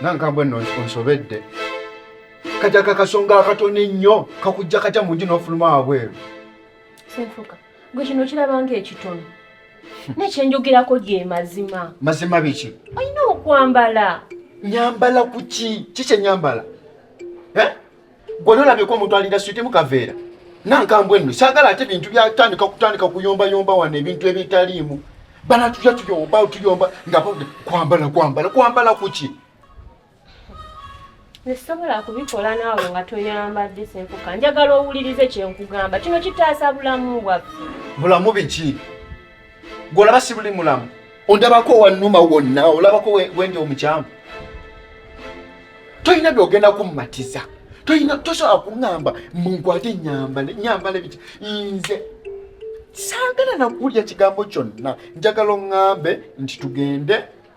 nankambwe no onsobedde kaja kakasonga akatono ennyo kakujja katya mu nju n'ofuluma wabweru senfuka gwe kino kirabanga ekitono nekyenjogerako ge mazima mazima biki olina okwambala nyambala kuki kikye nyambala eh? Gwe nolabyeko omuntu alira switi mu kaveera nankambwe nno saagala ate bintu byatandika kutandika kuyombayomba wano ebintu ebitaliimu bana tuja tuyomba tuyomba nga kwambala kwambala kwambala kuki nesobola kubikola naawe nga toyambadde senkuka njagala owulirize kyenkugamba kino kitaasa bulamu bwaffe bulamu biki gwolaba sibuli mulamu ondabako wanuma wonna olabako wendi omukyamu tolina byogenda kumumatiza tolina tosobola kuŋamba munkwate nyambale nyambale biki nze saagala nakuwulira kigambo kyonna njagala oŋambe nti tugende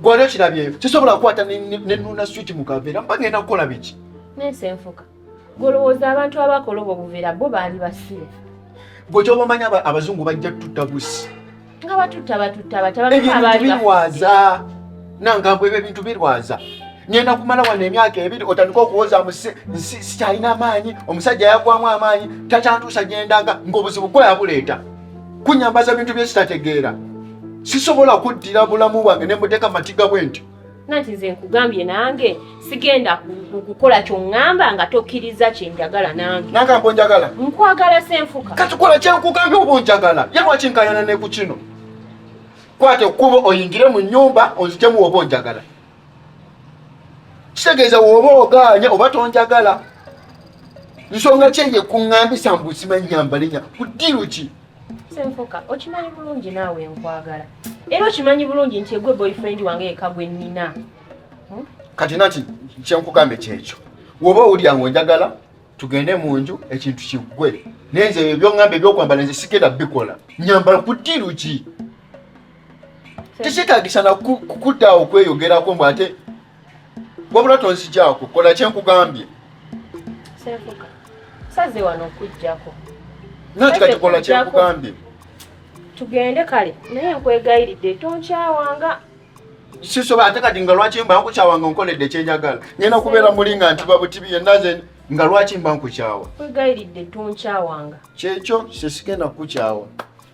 Gwali okirabyeyo kisobola kukwata ne nuna switi mu kaveera mba ngenda kukola biki? Nensi enfuka golowooza abantu abakola obwo buveera bo baali basiru. Gwe kyoba omanya abazungu bajja tutta busi nga batutta batutta batabaabiwaaza nangambwe ebyo ebintu birwaza ngenda kumala wano emyaka ebiri otandika okuwoza sikyalina amaanyi omusajja yagwamu amaanyi takyantuusa gyendanga ng'obuzibu kweyabuleeta kunyambaza bintu bye sitategeera sisobola kuddira bulamu bwange ne muteeka matiga bwe ntyo nanti nze nkugambye nange sigenda kukola kyoŋŋamba nga tokkiriza kyenjagala nange nagambo njagala nkwagala senfuka katukola kyankugambye oba onjagala ye lwaki nkayana ne ku kino kwata ekkubo oyingire mu nnyumba onzijemu oba onjagala kitegeeza woba ogaanya oba tonjagala nsonga kyeye kuŋambisa mbu sima nyambalinya ku ddiiru ki senfuka okimanyi bulungi naawe nkwagala era okimanyi bulungi nti egwe boyfriend wange yeka gwe nnina hmm? kati nati kyenkugambe kyekyo woba owulira nga onjagala tugende mu nju ekintu kiggwe naye nze ebyo byoŋŋamba ebyokwambala nze sigenda bikola nyambala ku ddiiru ki tekyetagisa nakukudda awo kweyogerako mbu ate wabula tonzigyako kola kyenkugambye saze wano okujjako nati kati kola kyenkugambye tugende kale naye nkwegayiridde tonkyawanga sisobola ate kati nga lwaki mba nkukyawanga nkoledde kyenjagala ngenda kubeera muli nga nti babutibi yenna ze nga lwaki mba nkukyawa nkwegayiridde tonkyawanga kyekyo sesigenda kukukyawa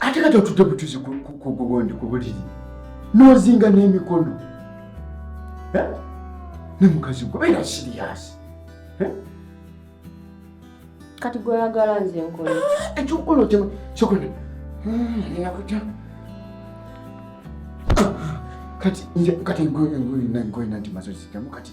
ate kati otudde butuzi kugundi ku buliri n'ozinga n'emikono eh? ne mukazi gwe beera siriyasi eh? kati gweyagala nze nkola ah, ekyokukola otema kyokola nakuta hmm, kati nze kati ngoyina ngoyina nti mazozi gamu kati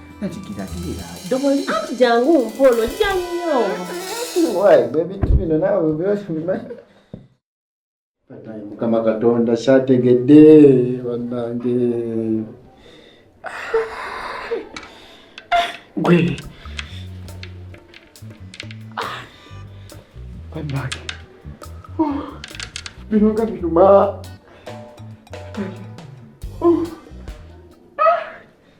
nakigiragirira ddoboli anti jangu mpolo jannyo wayi bwebintu bino naawe bimanyi banaye mukama katonda kyategedde banange gwe banange bino nga binuma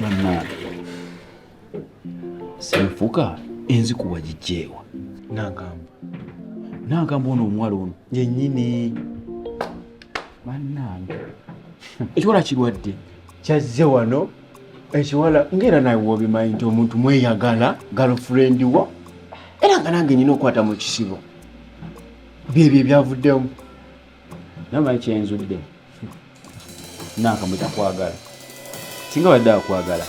bannange senfuka enzikuwa gijjeewa nagamba nagamba ono omuwala ono yenyini bannange ekiwala kirwadde kyazze wano ekiwala ngaera nawe wobimanyi nti omuntu mweyagala galofrendi wo era nga nange nyina okukwata mu kisibo byebyo ebyavuddemu namanyi kyenzudde nanka mwe takwagala singa badde akwagala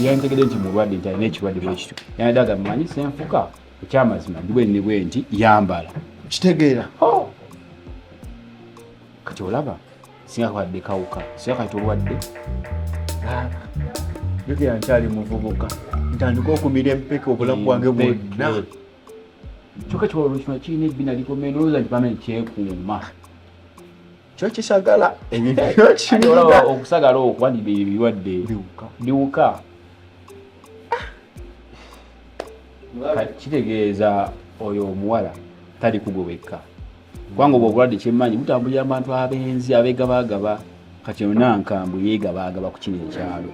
yantegede nti mulwadde nti alina ekirwadde bwekityo yanadde agamba manyi senfuka ekyamazima ndi bwenni bwe nti yambala kitegeera oh! kati olaba singa kwadde kawuka singa kati olwadde jukira nkyali muvubuka ntandika okumira empeke obulamu bwange bwonna kyoka kiwalolo kino kirina ebbina likomeye nolowooza nti bamene kyekuuma kyo kisagala ebyokiolaba okusagala okuba nibyo ebirwadde biwuka kitegeeza oyo omuwala tali kugwe wekka kubanga obwo obulwadde kyemmanyi butambulira mu bantu abenzi abegabaagaba kati yona nkambu yegabaagaba ku kino ekyalo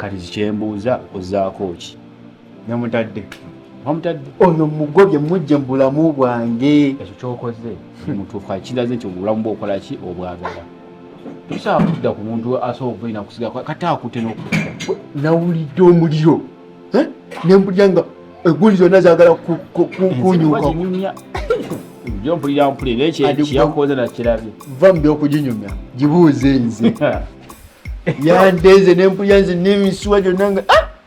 kati zikyembuuza ozaako ki namutadde wamutadde ono mugobye mujje mu bulamu bwange ekyo kyokoze mutuufu akiraze nti obulamu bwokola ki obwagala tosobola kudda ku muntu asobola okubeera nakusiga kata akute nokuta nawulidde omuliro eh? nembulira nga egguli zonna zagala kunyuka jo mpulira mpulira naye kyeyakoze nakirabye va mu byokuginyumya gibuuze nze yandeeze nempulira nze nemisuwa gyonna nga ah!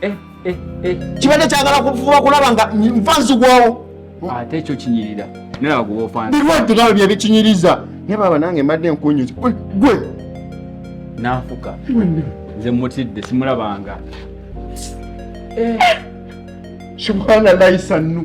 Eh, eh, eh. kibadde kyagala kufuba kulaba nga nfa nzigwawo ate ekyo kinyirira nalaba kuba ofaana birwadde nawe bye bikinyiriza naye baba nange mbadde nkunyuzi gwe nanfuka nze mutidde simulabanga subhanallahi sannu